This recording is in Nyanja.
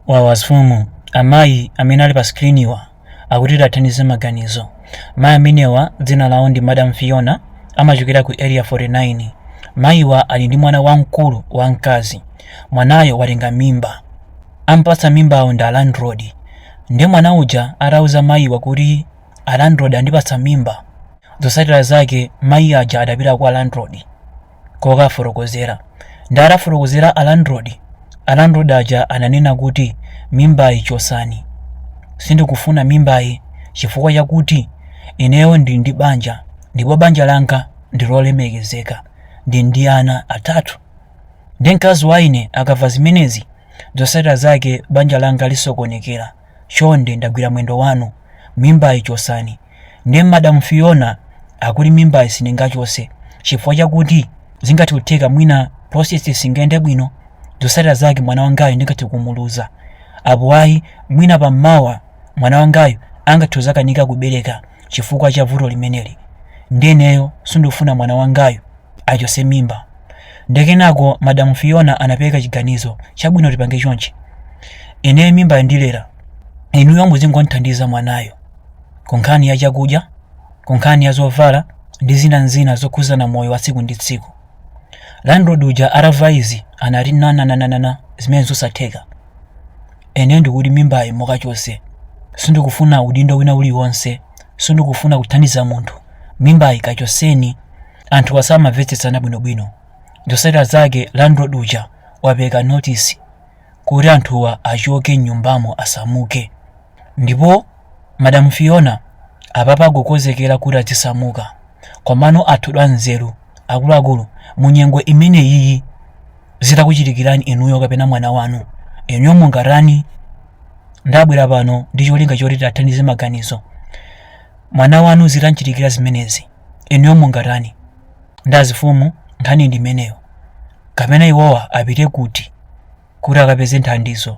Wawa mfumu. Amayi amene ali pa screen wa akuti tiathandize maganizo. Mayi amenewa dzina lawo ndi Madam Fiona amachokera ku Area 49. Mayi wa ali ndi mwana wamkulu wa mkazi. Mwanayo watenga mimba. Ampatsa mimbayo ndi a landlord. Nde mwana uja atauza mayi wa kuti a landlord andipatsa mimba, zotsatira zake mayi aja adapita kwa landlord. kukafotokozera nde atafotokozera a landlord a landlord aja ananena kuti mimbayi chosani sindikufuna mimbayi chifukwa chakuti ineyo ndili ndi banja ndipo banja langa ndilolemekezeka ndili ndi ana atatu ndi mkazi wa ine akamva zimenezi zotsatira zake banja langa lisokonekera chonde ndagwira mwendo wanu mimbayi chosani Nde Madam Fiona akuti mimbayi sindingachotse chifukwa chakuti zingathe kutheka mwina process singayende bwino, zotsatira zake mwana wangayu ndingathe kumuluza. Apo ayi, mwina pa mawa mwana wangayu angathe kudzakanika kubereka chifukwa cha vuto limeneli. Nde ineyo sindikufuna mwana wangayu achotse mimba. Nde kenako Madam Fiona anapereka chiganizo, chabwino tipange chonchi. Ineyo mimbayi ndilera, inuyo muzingomuthandiza mwanayo. ku nkhani ya chakudya ku nkhani ya zovala ndi zina ndi zina zokhudzana moyo wa tsiku ndi tsiku landlord uja atamva izi anati nananananana zimene zosatheka ine ndikuti mimbayi mukachotse sindikufuna udindo wina uliwonse sindikufuna kuthandiza munthu mimbayi kachotseni anthuwa sanamvetsetsane bwinobwino zotsatira zake landlord uja wapereka notice kuti anthuwa achoke m'nyumbamo, asamuke. Ndipo Madam Fiona apapa akukonzekera kuti adzisamuka. Komano anthu anzeru, akuluakulu, munyengo imeneyiyi zitakuchitikirani inuyo kapena mwana wanu, inuyo mungatani? Ndabwera pano ndi cholinga choti tiathandize maganizo. Mwana wanu zitamchitikira zimenezi, inuyo mungatani? Nde azimfumu, nkhani ndi imeneyo. kapena iwowa apite kuti kuti akapeze nthandizo?